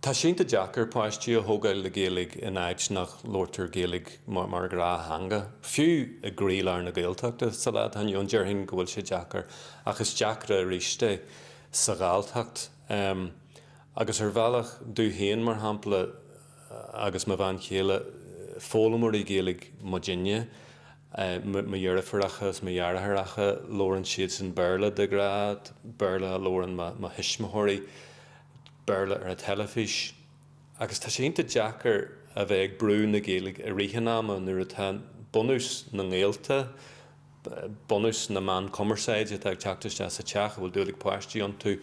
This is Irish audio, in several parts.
Tá sé iontach deacair páistí a thógáil le Gaeilge in áit nach labhraítear Gaeilge mar ghnáththeanga, fiú i gcroílár na Gaeltachta. Sa lá atá inniu ann déarfainn go bhfuil sé deacair, ach is deacra arís é sa Ghalltacht. Agus ar bhealach, domh féin mar shampla agus mo bhean chéile, foghlaimeoirí Gaeilge muidinne, mo dheirfiúracha is mo dheartháireacha, labhrann siadsan Béarla de ghnáth, Béarla a labhrann mo thuismitheoirí. Béarla ar an teilifís agus tá sé iontach deacair a bheith ag brú na Gaeilge i rith an ama nuair atá bunús na ngaolta, bunús na meán cumarsáide atá ag teacht isteach sa teach a bhfuil dúil ag páistí iontu.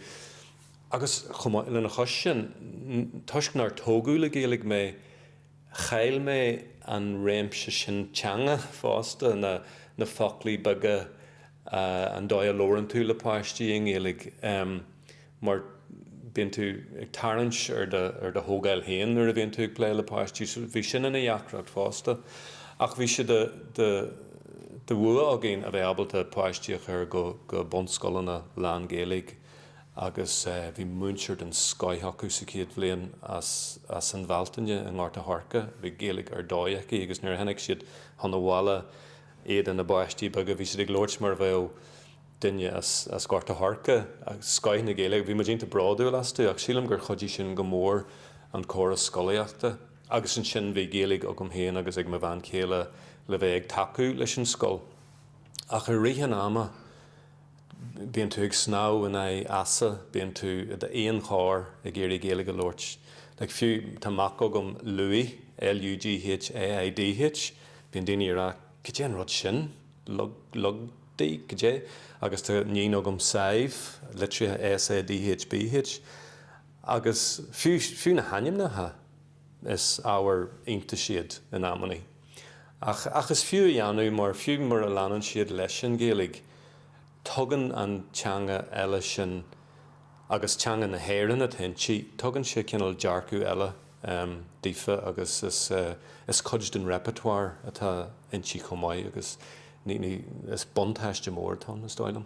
Agus chomh maith lena chois sin, toisc nár tógadh le Gaeilge mé, chaill mé an réimse sin teanga fosta, na foclaí beaga, an dóigh a labhrann tú le páistí i nGaeilge mar bíonn tú ag tarraingt ar do thógáil féin nuair a bhíonn tú ag plé le páistí. So bhí sin ina dheacracht fosta. Ach bhí sé de bhua againn a bheith ábalta páistí a chur go bunscoileanna lán-Ghaeilge agus bhí múinteoir den scoith acu sa chéad bhliain as an Bhealtaine i nGort a' Choirce. Bhí Gaeilge ar dóigh aici agus nuair a tháinig siad chun an bhaile, iad ina bpáistí beaga, bhí siad ag labhairt mar a bheadh duine as Gort a' Choirce, scoith na Gaeilge. Bhí muid iontach bródúil astu ach sílim gur chuidigh sin go mór an córas scolaíochta agus ansin bhí Gaeilge agam féin agus ag mo bhean chéile le bheith ag tacú leis an scoil ach i rith an ama Bíonn tú ag snámh in aghaidh easa, bíonn tú i d'aonar ag iarraidh Gaeilge a labhairt. Like fiú, tá mac agam, Lughaidh, L-u-g-h-a-i-d-h, bíonn daoine ag rá cad é an rud sin? Lugdaí? Cad é? Agus tá iníon agam, Sadhbh, litrithe S-a-d-h-b-h. Agus fiú na hainmneacha. Is ábhar iontais iad in amannaí. Ach is fiú a dhéanamh mar fiú mura leanann siad leis an Ghaeilge, tugann an teanga eile sin, agus teanga na hÉireann atá inti, tugann sé cineál dearcadh eile daofa agus is cuid den repertoire atá inti chomh maith agus is buntáiste mór atá ann, is dóigh liom.